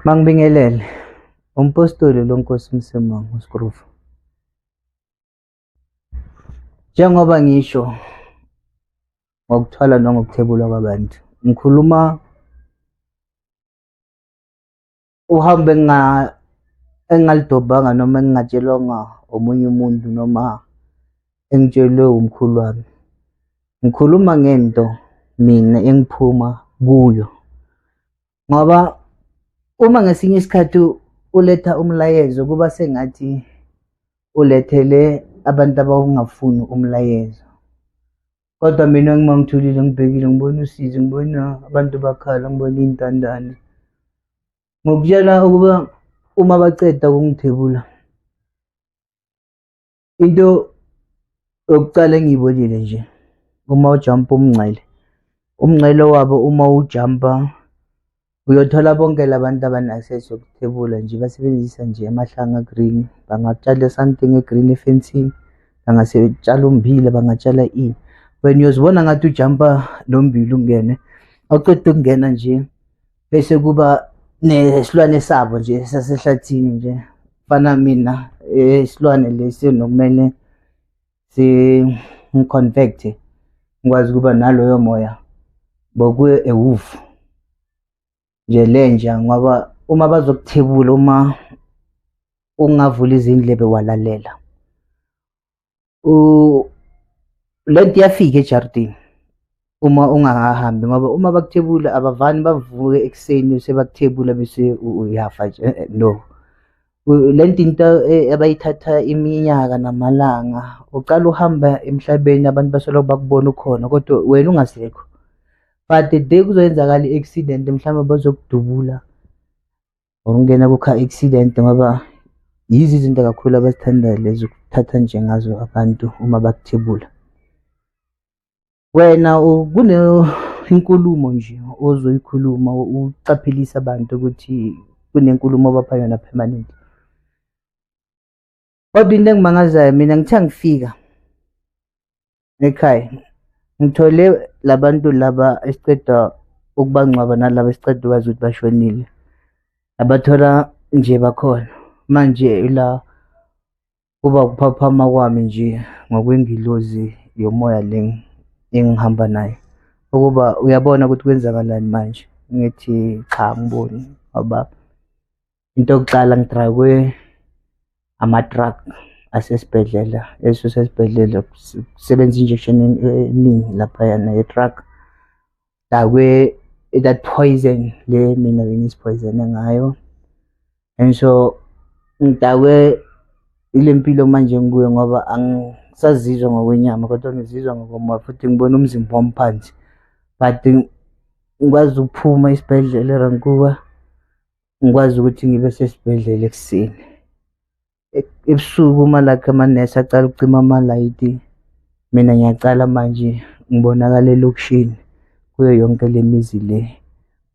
Mangibingelele. Umpostoli lonkosi Msimang uSkrufu. Njengoba ngisho ngokuthwala nangokuthebula kwabantu, ngikhuluma uhambe nga engalidobhanga noma engingatshelwanga omunye umuntu noma engitshelwe umkhulu wami ngikhuluma ngento mina engiphuma kuyo ngoba uma ngesinye isikhathi uletha umlayezo kuba sengathi ulethele abantu abawungafuni umlayezo kodwa mina ngima ngithulile ngibhekile ngibona usizi ngibona abantu bakhala ngibona iy'ntandane ngokutshela ukuba uma baceda ukungithebula into yokuqala engiyibonile nje uma ujumpa umngcele umngcele wabo uma ujumpa uyothola bonke labantu abana-access yokuthebula nje basebenzisa nje amahlanga green bangatshala something egreen efensini bangasetshala umbila bangatshala ini wena uyozibona ngathi ujumpa lo mbila ungene awuqeda ukungena nje bese kuba nesilwane sabo nje sasehlathini nje fana mina isilwane eh, lesi nokumele singiconvecte ngikwazi ukuba naloyo moya bokuye ewufu nje lenja ngoba uma bazokuthebula uma ungavula izindlebe walalela lento iyafika ejardini uma ungahambi ngoba uma bakuthebula abavani bavuke ekuseni sebakuthebula bese uyafa nje eh, eh, no le nto into eh, abayithatha iminyaka namalanga uqala uhamba emhlabeni abantu basoloko bakubona ukhona kodwa wena ungasekho but the day kuzoyenzakala i-accident mhlawumbe bazokudubula ukungena kukha-accident ngoba yizo izinto kakhulu abazithandayo lezi ukuthatha nje ngazo abantu uma bakuthebula wena kunenkulumo nje ozoyikhuluma ucaphelisa abantu ukuthi kunenkulumo obapha yona permanent Kodwa into engimangazayo mina ngithe ngifika ekhaya ngithole labantu laba esiqeda ukubangcwaba nalaba esiqeda ukwazi ukuthi bashonile abathola nje bakhona manje ila kuba ukuphaphama kwami nje ngokwengilozi yomoya le engihamba nayo ukuba uyabona ukuthi kwenzakalani manje ngithi cha ngiboni ngoba into yokuqala ngidrakwe ama-truck asesibhedlela esuse esibhedlela kusebenza injection eningi laphayana ye-truck dakwe that poison le mina bengisiphoyizene ngayo and so ngidakwe ile mpilo manje ngikuyo ngoba angisazizwa ngokwenyama kodwa ngizizwa ngokomoya futhi ngibona umzimba wami phansi but ngikwazi ukuphuma isibhedlela erankuba ngikwazi ukuthi ngibe sesibhedlela ekuseni ebusuku umalakhe amanesi acala ukucima amalayiti mina ngiyacala manje ngibonakala elokishini kuyo yonke le mizi le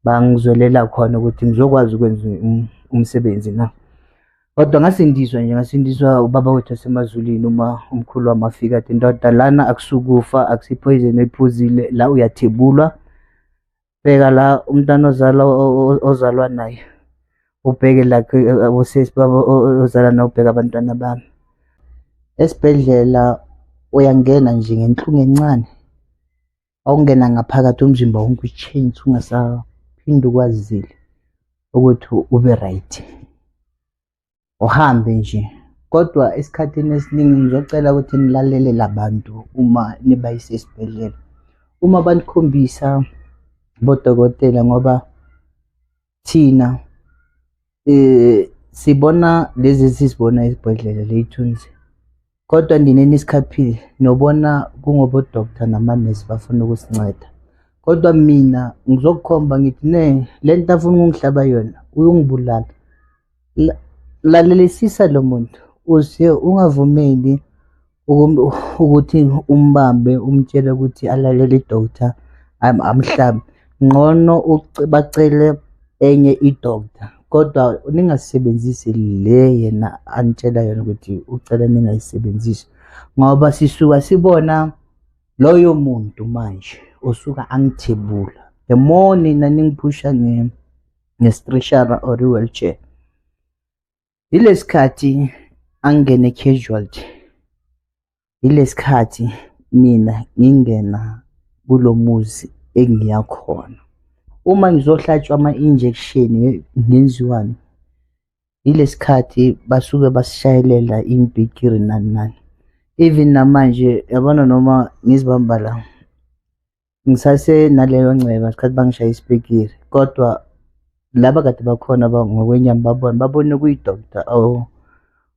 bangizwelela khona ukuthi ngizokwazi ukwenza um, umsebenzi na kodwa ngasindiswa nje ngasindiswa ubaba wethu asemazulwini uma umkhulu wami afika athi ndoda lana akusukufa akusiphoyizeni ephuzile la uyathebulwa bheka la umntana ozalwa ozalwa naye ubheke la abosisi babo ozala naye ubheka abantwana bami esibhedlela uyangena nje ngenhlungu encane awungena ngaphakathi umzimba wonke utshenjise ungasaphinde ukwazile ukuthi ube right uhambe nje kodwa esikhathini esiningi ngizocela ukuthi nilalele labantu uma nibayise esibhedlela uma banikhombisa bodokotela ngoba thina eh sibona lezi sizibona esibhedlela leyithunzi Kodwa nina enisikhaphile nobona kungobodoktha namanesi bafuna ukusinceda. Kodwa mina ngizokukhomba ngithi ne le nto afuna ukungihlaba yona uyongibulala. La- Lalelisisa lo muntu uze ungavumeli ukum- ukuthi umbambe umtshele ukuthi alalele idokotha am- amhlabe. ngcono bacele enye i-doctor kodwa ningasebenzisi le yena anitshela yona ukuthi ucela ningayisebenzisi ngoba sisuka sibona loyo muntu manje osuka angithebula the more nina ningiphusha nge-streshara or i-wheelchair yilesikhathi angene casualty yilesikhathi mina ngingena kulomuzi engiya khona uma ngizohlatshwa ama injection ngenziwani yilesikhathi basuke basishayelela imbikiri nani nani even namanje yabona noma ngizibamba la ngisase naleyo nceba sikhathi bangishaya isipikiri kodwa laba kade bakhona ngokwenyama babona babone kuyi-doctor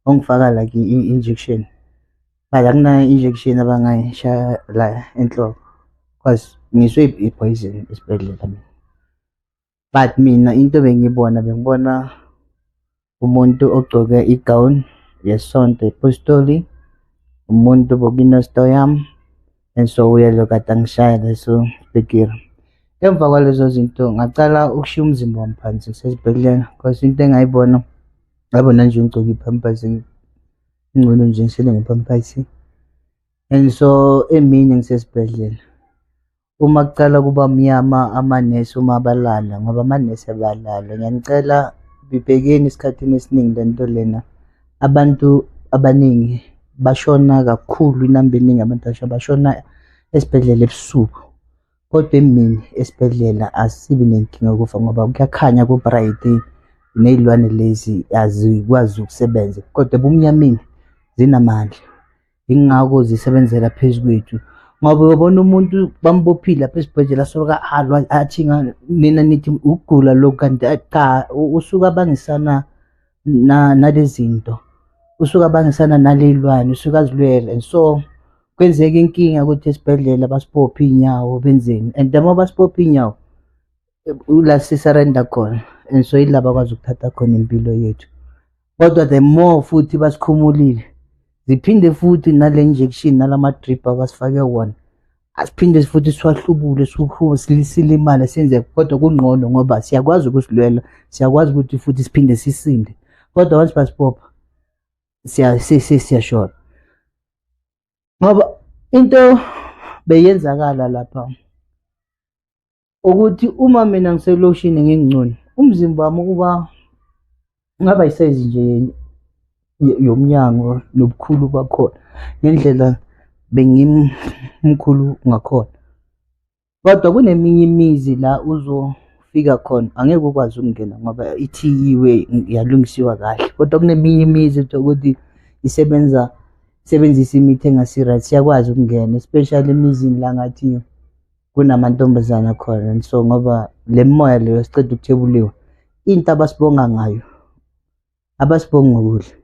ongifaka like i-injection but akuna-injection abangayishaya la enhloko because ngiswe i-poison esibhedlela mina but mina into bengiyibona bengibona umuntu ogcoke i-gown yesonto ipostoli umuntu bokinesto yami and so uyelo kade angishaya leso bhekira emva kwalezo zinto ngacala ukushiya umzimba wami phansi ngisesibhedlela cause into engayibona ngabona nje ngigcoke iphampasi ingcono nje ngisele ngephampasi and so emini ngisesibhedlela uma kuqala kuba mnyama amanesi uma abalala ngoba amanesi abalala ngiyanicela bibhekeni esikhathini esiningi le nto lena abantu abaningi bashona kakhulu inamba eningi abantu basha bashona esibhedlela ebusuku kodwa emini esibhedlela asibi nenkinga yokufa ngoba kuyakhanya ku-bright nezilwane lezi azikwazi ukusebenza kodwa ebumnyameni zinamandla yingakho zisebenzela phezu kwethu ngoba uyobona umuntu bambophile lapha esibhedlela asoloko alwa athi nina nithi ukugula lokhu kanti cha usuke abangisana nale zinto usuke abangisana naley'lwane usuke azilwele and so kwenzeka inkinga ukuthi esibhedlela basibophe iy'nyawo benzeni and uma basibophe iy'nyawo ula sisarenda khona and so yila bakwazi ukuthatha khona impilo yethu kodwa the more futhi basikhumulile ziphinde futhi nale injection nalama drip abasifake wona asiphinde futhi siwahlubule siwuhlume silimale senze kodwa kungqono ngoba siyakwazi ukusilwela siyakwazi ukuthi futhi siphinde sisinde kodwa once basibopha siyashona ngoba into beyenzakala lapha ukuthi uma mina ngiseloshini ngingcono umzimba wami ukuba ngaba isayizi nje yomnyango nobukhulu bakhona ngendlela bengimkhulu ngakhona kodwa kuneminye imizi la uzofika khona angeke ukwazi ukungena ngoba ithiyiwe yalungisiwa kahle kodwa kuneminye imizi ukuthi isebenza sebenzisa imithi engasi-right siyakwazi ukungena especially emizini la ngathi kunamantombazana khona and so ngoba le moya leyo siqeda ukuthebuliwa into abasibonga ngayo abasibongi ngokudla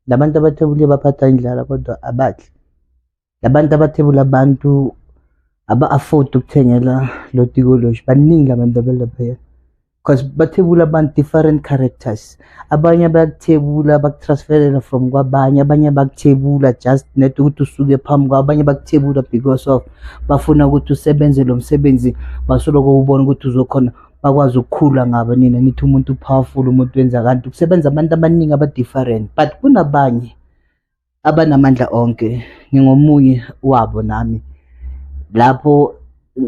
labantu abathebuliwe baphatha indlala kodwa abadli labantu abathebula abantu aba-afford ukuthengela lo tikoloshi baningi abantu abalaphaya because bathebula abantu different characters abanye bayakuthebula bakutransferela from kwabanye abanye bakuthebula just net ukuthi usuke phambi kwabo abanye bakuthebula because of bafuna ukuthi usebenze lo msebenzi basoloko ubona ukuthi uzokhona bakwazi ukukhula ngabo nina nithi umuntu powerful umuntu wenza kanti kusebenza abantu abaningi aba-different but kunabanye abanamandla onke ngingomunye wabo nami lapho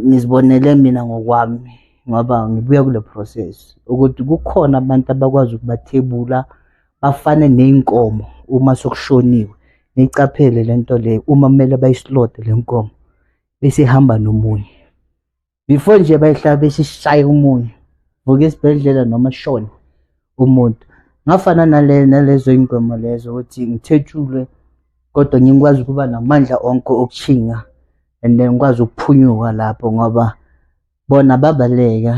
ngizibonele mina ngokwami ngoba ngibuya kule process ukuthi kukhona abantu abakwazi ukubathebula bafane ney'nkomo uma sokushoniwe niyicaphele le nto leyo uma kumele bayisilode le nkomo bese ihamba nomunye before nje bayihlaba isishaye umunyu vuka esibhedlela noma shona umuntu ngafana nale nalezo ingoma lezo ukuthi ngithetshulwe kodwa ngikwazi ukuba namandla onke okushinga and then ngikwazi ukuphunyuka lapho ngoba bona babaleka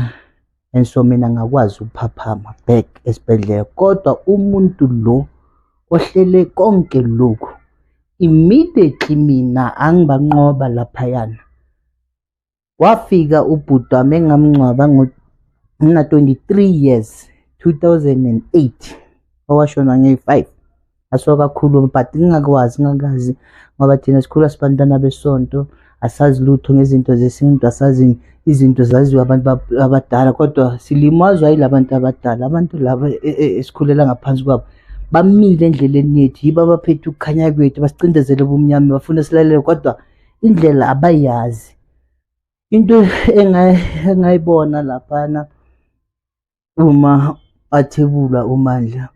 and so mina ngakwazi ukuphaphama back esibhedlela kodwa umuntu lo ohlele konke lokhu immediately mina angibanqoba laphayana Wafika ubhuti wami engamngcwaba ngina-23 years 2008 owashona ngeyi-5 asuka kakhulu but ngingakwazi ngingakazi ngoba thina sikhula sibantwana besonto asazi lutho ngezinto zesintu asazi izinto zaziwa abantu abadala kodwa silimazwa yila bantu abadala abantu laba e, e, esikhulela ngaphansi kwabo bamile endleleni yethu yibo abaphethe ukukhanya kwethu basicindezele ubumnyama bafuna silalele kodwa indlela abayazi into engayibona laphana uma athebula umandla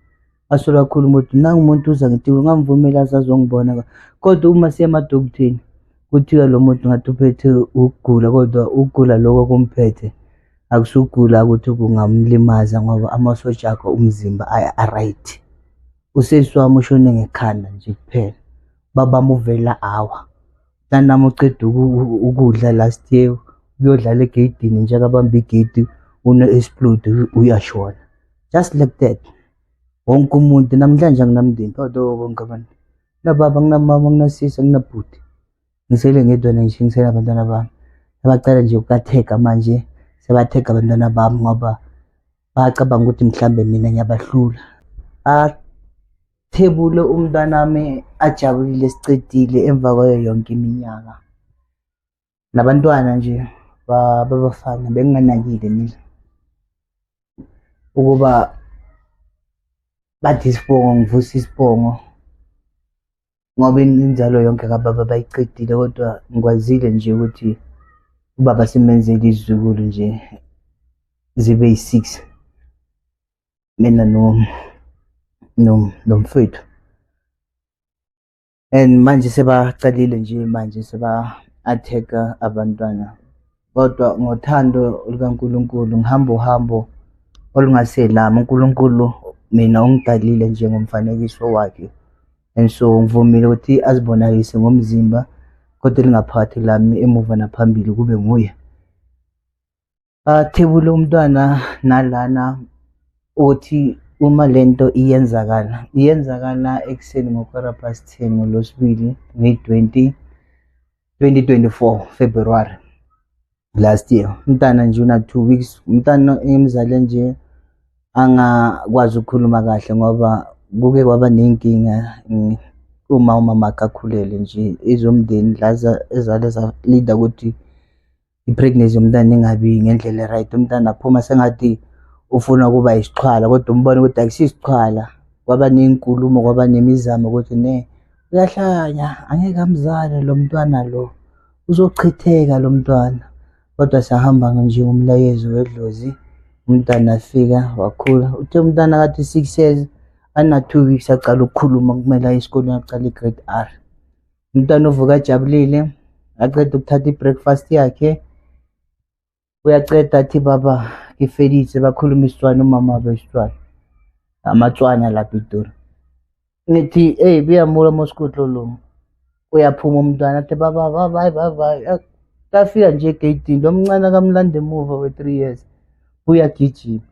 asola kakhulu umuntu nangu umuntu uza ngithiwe ngamvumela azazongibona kodwa uma siya emadokutheni kuthiwa lo muntu ngathi uphethe ukugula kodwa ukugula lokho kumphethe akusugula ukuthi kungamlimaza ngoba amasotsha akho umzimba a-right usesi wami ushone ngekhanda nje kuphela baba muvela awa nanami uceda ukudla last year uyodlala egeyidini njengabamba igeyidi une-explode uyashona just like that wonke umuntu namhlanje anginamndeni kodwa bonke abantu nababa nginamama nginasisi nginabhuti ngisele ngedwa nje ngisele abantwana bami abacela nje ukukathega manje sebathega abantwana bami ngoba bacabanga ukuthi mhlambe mina ngiyabahlula Thebule umntanami ajabulile sicedile emva kwayo yonke iminyaka. Nabantwana nje babafana benginganakile mina ukuba bathi isibongo ngivusa isibongo ngoba inzalo yonke kababa bayicedile kodwa ngikwazile nje ukuthi ubaba simenzele izizukulu nje zibe yi-six mina no no nomfethu and manje sebaqalile nje manje seba atheka abantwana kodwa ngothando lukaNkulunkulu ngihamba uhambo olungaselami uNkulunkulu mina ungidalile nje ngomfanekiso wakhe and so ngivumile ukuthi azibonakalise ngomzimba kodwa elingaphakathi lami emuva naphambili kube nguye Athebule umntwana nalana uthi uma le nto iyenzakala iyenzakala ekuseni ngokwara past ten ngolwesibili ngeyi-twenty 2024 February last year umntana nje una two weeks umntana engimzale nje angakwazi ukukhuluma kahle ngoba kuke kwaba nenkinga uma umama akakhulele nje izomndeni laza ezale zalida ukuthi i-pregnancy yomntana ingabi ngendlela right umntana aphuma sengathi ufuna ukuba isixhwala kodwa umbona ukuthi akusisixhwala kwaba nenkulumo kwaba nemizamo ukuthi ne uyahlanya angeke amzale lo mntwana lo uzochitheka lo mntwana kodwa sahamba nje umlayezo wedlozi umntana afika wakhula uthe umntana kathi six years ana-two weeks aqala ukukhuluma kumele aye esikolweni aqala i-grade r umntwana uvuka ajabulile aqeda ukuthatha i-breakfast yakhe uyaceda athi baba ngifelise bakhuluma isitswana umama wabo isitswana amatswana lapha idura ngithi eyi buyamula mosikudlo lo uyaphuma umntwana athi baba baba hayi baba kafika nje egeyidini lo mncane akamlanda emuva we-three years uyagijima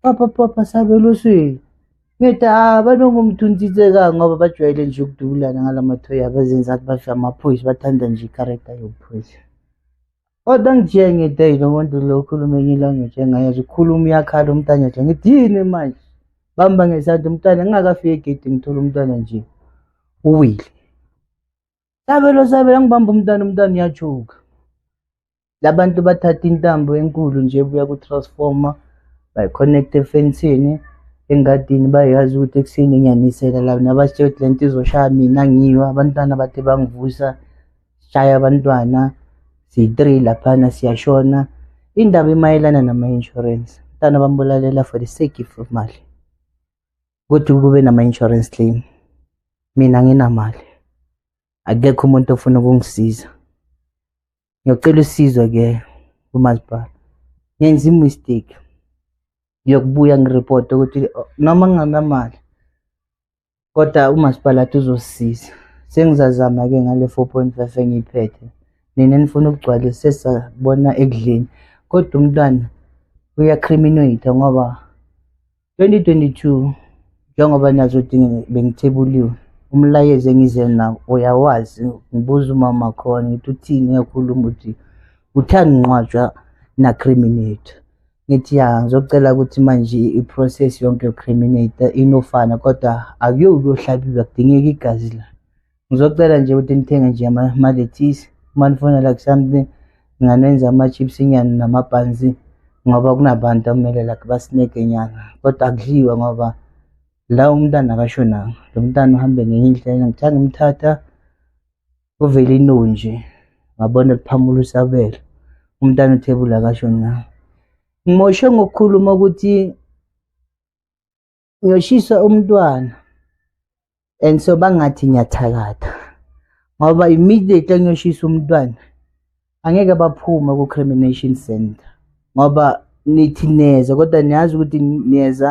Papa papa sabelo sweli. Ngithi ah banongumthuntiseka ngoba bajwayele nje ukudubulana ngalamathoyi abazenza ukuthi bafe amaphoyisa bathanda nje i-character yobuphoyisa. Kodwa ngithiye ngithi eyi lo muntu lo ukhuluma enye ilanguage engayazi ukhuluma uyakhala umntana nje ngithi yini manje bamba ngesandla umntana ngingakafiki egedini ngithola umntana nje uwile. Sabelo sabelo ngibamba umntana umntana uyajuka. Labantu bathatha intambo enkulu nje buya ku transformer by connect efensini engadini bayazi ukuthi ekuseni ngiyanisela la nabasitshela ukuthi lento izoshaya mina ngiwa abantwana bathe bangivusa shaya abantwana siyi-three laphana siyashona indaba imayelana nama-insurance mntana bambulalela for the sake of mali ukuthi kube nama-insurance claim mina nginamali akekho umuntu ofuna ukungisiza ngiyocela usizo ke kumasipala ngenza imistake ngiyokubuya ngiripota ukuthi oh, noma nginganamali kodwa umasipala athi uzosisiza sengizazama ke ngale 4.5 engiyiphethe nina nifuna ukugcwalisa sesabona ekudleni kodwa umntwana uyacriminator ngoba 2022 njengoba nazi ukuthi bengithibuliwe umlayezo engize nawo uyawazi ngibuza umama khona ngithi uthini uyakhuluma ukuthi uthanda nqwatshwa nacriminator ngithi ya ngizocela ukuthi manje i-process yonke yocriminator inofana kodwa akuyokuyohlabiwa kudingeka igazi la Ngizocela nje ukuthi nithenge nje ama-lettuce uma nifuna like something nginganenza ama-chips inyani nama-buns ngoba kunabantu akumele like basineke nyana kodwa akudliwa ngoba la umntana akashonanga lo mntana uhambe ngenye indlela ngithanda umthatha kuvele inonje ngabona liphamula usabelo umntana uthebula akashonanga ngimoshe ngokukhuluma ukuthi ngiyoshisa umntwana and so bangathi ngiyathakatha ngoba immediately ngiyoshisa umntwana angeke baphume ku-crimination center ngoba nithi neza kodwa niyazi ukuthi niyeza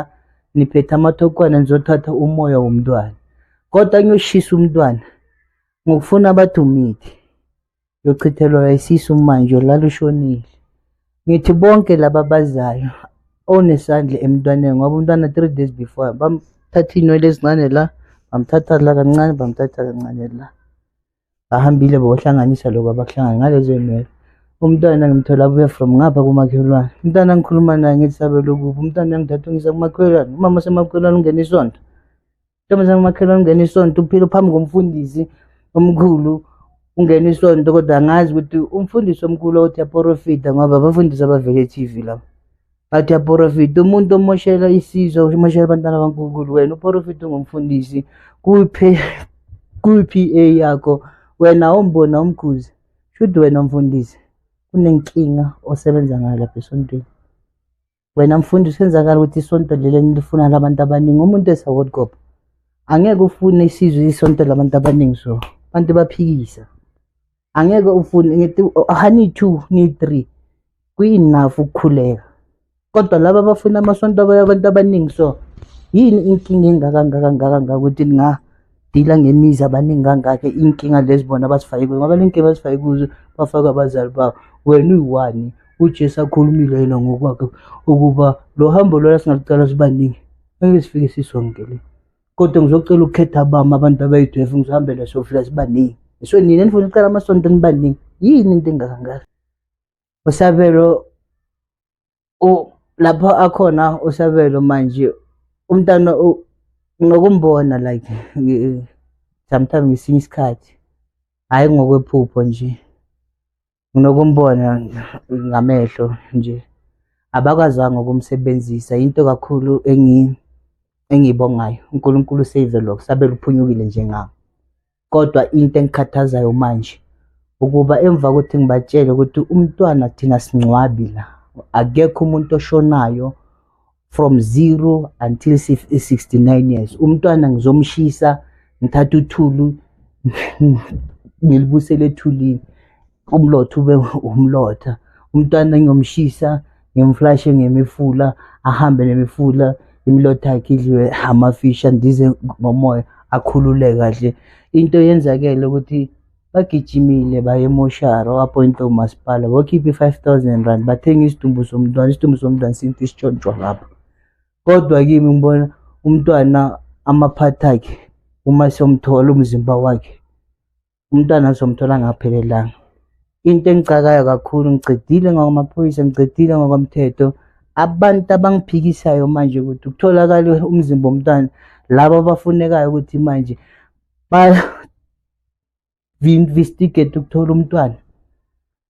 niphethe amathokwana nizothatha umoya womntwana kodwa ngiyoshisa umntwana ngokufuna abathi umithi yochithelwa isisu manje lalushonile ngithi bonke laba bazayo onesandla emntwaneni ngoba umntwana three days before bamthatha iy'nwele ezincane la bamthatha la kancane bamthatha kancane la bahambile bohlanganisa lokhu abakuhlangana ngalezo y'nwele umntwana ngimthola abuya from ngapha kumakhelwane umntwana ngikhuluma naye ngithi sabelokuphi umntwana uyangithatha ungisa kumakhelwane umama semakhelwane ungena isonto Ntombazane umakhelwane ungena isonto uphila phambi komfundisi omkhulu ungena isonto kodwa angazi ukuthi umfundisi omkhulu othi yaporofida ngoba abafundisi abavele e-TV labo athi yaporofida umuntu omoshela isizwe umoshela abantwana abankulunkulu wena uporofida ungumfundisi kwi-p a yakho wena awumbona umkhuzi shuthi wena mfundisi kunenkinga osebenza ngayo lapha esontweni wena mfundi usenzakala ukuthi isonto leli enilifuna labantu abaningi umuntu esaward cop angeke ufune isizwe isonto labantu abaningi so abantu baphikisa angeke ufune ngithi hani two ni three kuyinafu ukukhuleka kodwa laba abafuna amasonto abantu abaningi so yini inkinga engaka ngaka ngaka ngaka ukuthi ninga dila ngemizi abaningi kangakho iy'nkinga lezi bona abazifake kuzo ngoba le nkinga abazifake kuzo bafake abazali babo wena uyiwani ujesu akhulumile yena ngokwakhe ukuba lo hambo lona singalucala sibaningi ngeke sifike sisonke le kodwa ngizocela ukukhetha abami abantu abayidwefu ngizihambele sofika sibaningi so nina nifuna ucala amasonto nibaningi yini into engakangaka usabelo u lapho akhona uSabelo manje umntana ngokumbona like sometimes ngesinye isikhathi hhayi ngokwephupho nje nginokumbona ngamehlo nje abakwazanga ukumsebenzisa into kakhulu engiyibongayo uNkulunkulu save lokho sabe luphunyukile njengami kodwa into engikhathazayo manje ukuba emva kokuthi ngibatshele ukuthi umntwana thina singcwabi la akekho umuntu oshonayo from zero until 69 years umntwana ngizomshisa ngithatha uthulu ngilibusele ethulini umlotha ube umlotha umntwana ngiyomshisa ngimflashe ngemifula ahambe nemifula imilotha yakhe idliwe amafishi andize ngomoya akhulule kahle into yenzakele ukuthi bagijimile baye emoshari wapointa umasipala wakhipha i-five thousand rand bathenga isidumbu somntwana isidumbu somntwana sinto isitshontshwa lapho kodwa kimi ngibona umntwana amaphathi akhe uma somthola umzimba wakhe umntwana azomthola ngaphelelanga into engicakayo kakhulu ngicedile ngokwamaphoyisa ngicedile ngokomthetho abantu abangiphikisayo manje ukuthi kutholakale umzimba womntwana laba abafunekayo ukuthi manje ba-investigate ukuthola umntwana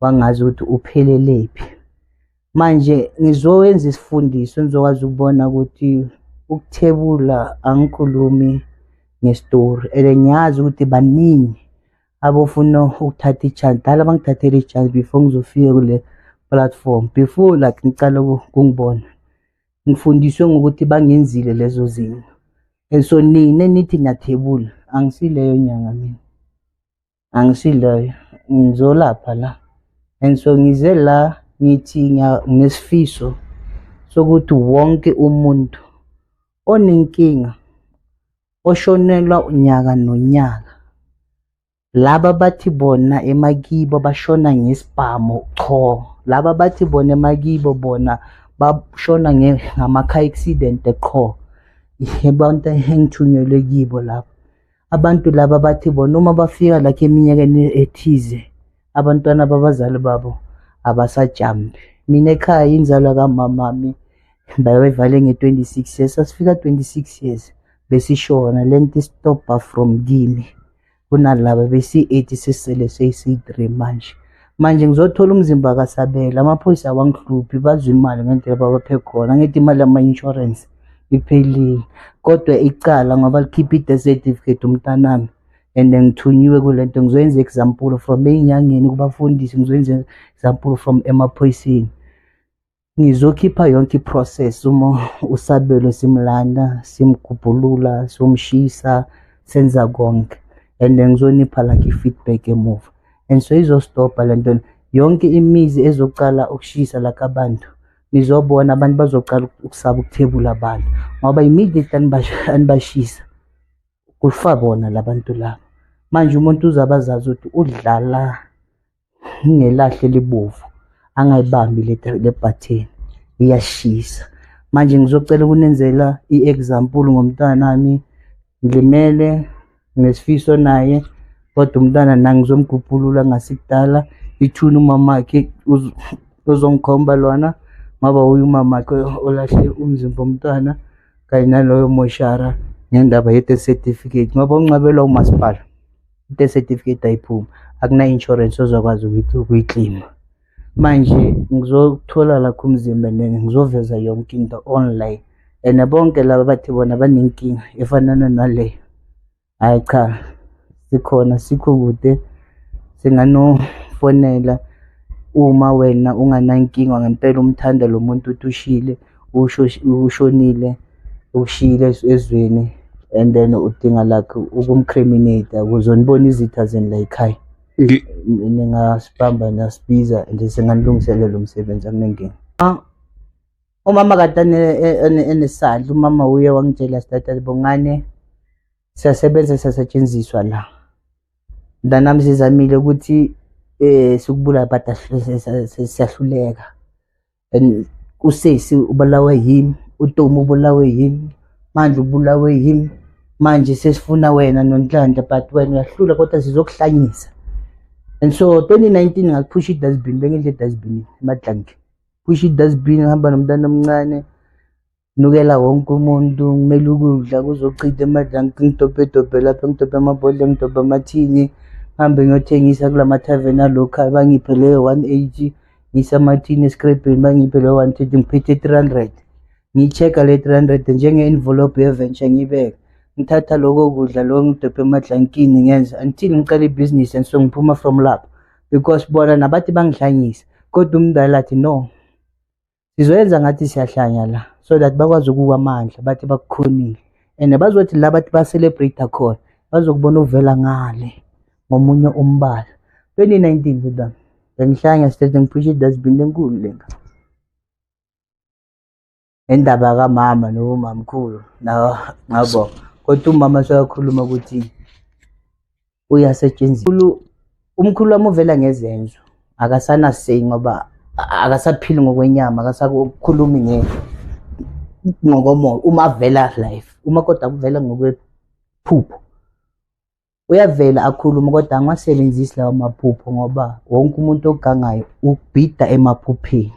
wangazi ukuthi uphelelephi manje ngizowenza isifundiso ngizokwazi ukubona ukuthi ukuthebula angikhulumi ngestori and ngiyazi ukuthi baningi abofuna ukuthatha ichance dala bangithathele ichance before ngizofika kule platform before like ngicala kungibona ngifundiswe ngokuthi bangenzile lezo zinto and so nina nithi nathebula angisileyo nyanga mina angisiloyo ngizolapha la and so ngize la ngithi nginesifiso sokuthi wonke umuntu onenkinga oshonelwa unyaka nonyaka laba bathi bona emakibo bashona ngesibhamu qho laba bathi bona emakibo bona bashona ngama-car accident qho abantu engithunyelwe kibo lapho Abantu laba bathi bona uma bafika lakhe eminyakeni ethize abantwana babazali babo abasajambi. Mina ekhaya inzalwa kamamami bayivale nge-26 years sasifika 26 years besishona le nto istobha from kimi kunalaba besi-8 sisele seyi-3 manje manje ngizothola umzimba kasabela amaphoyisa awangihluphi bazwa imali ngendlela babaphe khona ngithi imali yama-insurance iphelile kodwa icala ngoba likhipha i-death certificate umntanami and ngithunyiwe kule nto ngizoyenza example from ey'nyangeni kubafundisi ngizoyenza example from emaphoyiseni ngizokhipha yonke i-process uma usabelo simlanda simgubhulula somshisa senza konke and ngizonipha like i-feedback emuva and so izostobha le nto yonke imizi ezoqala ukushisa laka bantu nizobona abantu bazocala ukusaba ukuthebula abantu ngoba immediate anibashisa kufa bona labantu laba manje umuntu uzabe azazi ukuthi udlala ngelahle libovu angayibambi le bhatheni iyashisa manje ngizocela ukunenzela i-example ngomntanami ngilimele nesifiso naye kodwa umntana nangizomgubhulula ngasikudala ithuna umamakhe uzongikhomba lona ngoba uye umamakhe olahle umzimba omntwana kanye naloyo moshara ngendaba ye-death certificate ngoba unqabelwa umasipala i-death certificate ayiphumi akuna-insurance ozokwazi ukuthi ukuyiklima manje ngizothola lakho umzimba nene ngizoveza yonke into online and bonke laba bathi bona banenkinga efanana naleyo hhayi cha sikhona sikho kude singanofonela uma wena unganankinga ngempela umthanda lo muntu uthi ushile ushonile ukushiyile ezweni and then udinga lakhe ukumcriminate akuzonibona izitha zeni la yikhaya Ngi- Ni- ningasibamba nasibiza nje singanilungiselela umsebenzi akunenkinga Ah, umama kade ane- e- ene- enesandla umama uye wangitshela sitatele bongane siyasebenza siyasetshenziswa la mntanami sizamile ukuthi um sikubulala but ahl- siyahluleka and usesi ubulawe yimi utomu ubulawe yimi manje ubulawe yimi manje sesifuna wena nonhlanhla but wena uyahlula kodwa sizokuhlanyisa and so 2019 ngakuphusha idustbin bengidla edustbin emadlanke phusha idustbin ngihamba nomntana omncane nukela wonke umuntu ngimele ukudla kuzochitha emadlanga ngidobhedobhe lapha ngidobhe amabhodle ngidobhe amathini ngihambe ngiyothengisa kula mathaveni alocal bangiphe leyo one eighty ngise amathini escrabheni bangiphe leyo one thirty ngiphethe three hundred ngiyi-check-a le three hundred njenge-envelope yeventure ngiyibeke ngithatha loko kudla loko ngidobhe emadlankini ngenza until ngiqala ibhizinisi and so ngiphuma from lapho because bona nabathi bangidlanyisa kodwa umdala athi no sizoyenza ngathi siyahlanya la so that bakwazi ukuwa amandla bathi bakukhonile and bazothi la bathi ba-celebrate khona bazokubona uvela ngale ngomunye umbala 2019 buda bengihlanya state ngiphisha idustbin enkulu lenga indaba kamama nomamkhulu ngabo kodwa umama soyakhuluma ukuthi uyasetshenziswa umkhulu wami uvela ngezenzo akasana say ngoba akasaphili ngokwenyama akasakukhulumi nge ngokomoya uma avela life uma kodwa kuvela ngokwephupho uyavela akhulume kodwa angiwasebenzisi lawo maphupho ngoba wonke umuntu ogangayo ubhida emaphupheni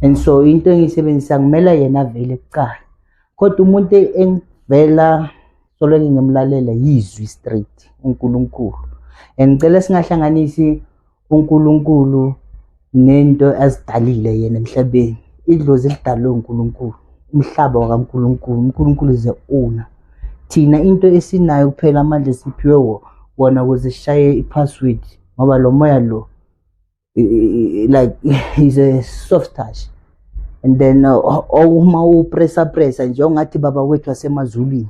and so into engiyisebenzisa ngimela yena avele kuqala kodwa umuntu engivela solenge ngimlalela yizwi straight uNkulunkulu and ngicela singahlanganisi uNkulunkulu nento azidalile yena emhlabeni idlozi lidalwe uNkulunkulu umhlaba wakaNkulunkulu uNkulunkulu is the owner thina into esinayo kuphela amandla esiphiwe wona ukuze sishaye i-password ngoba lo moya lo like he's a soft touch and then uh, uma upressa pressa nje ungathi baba wethu wasemazulwini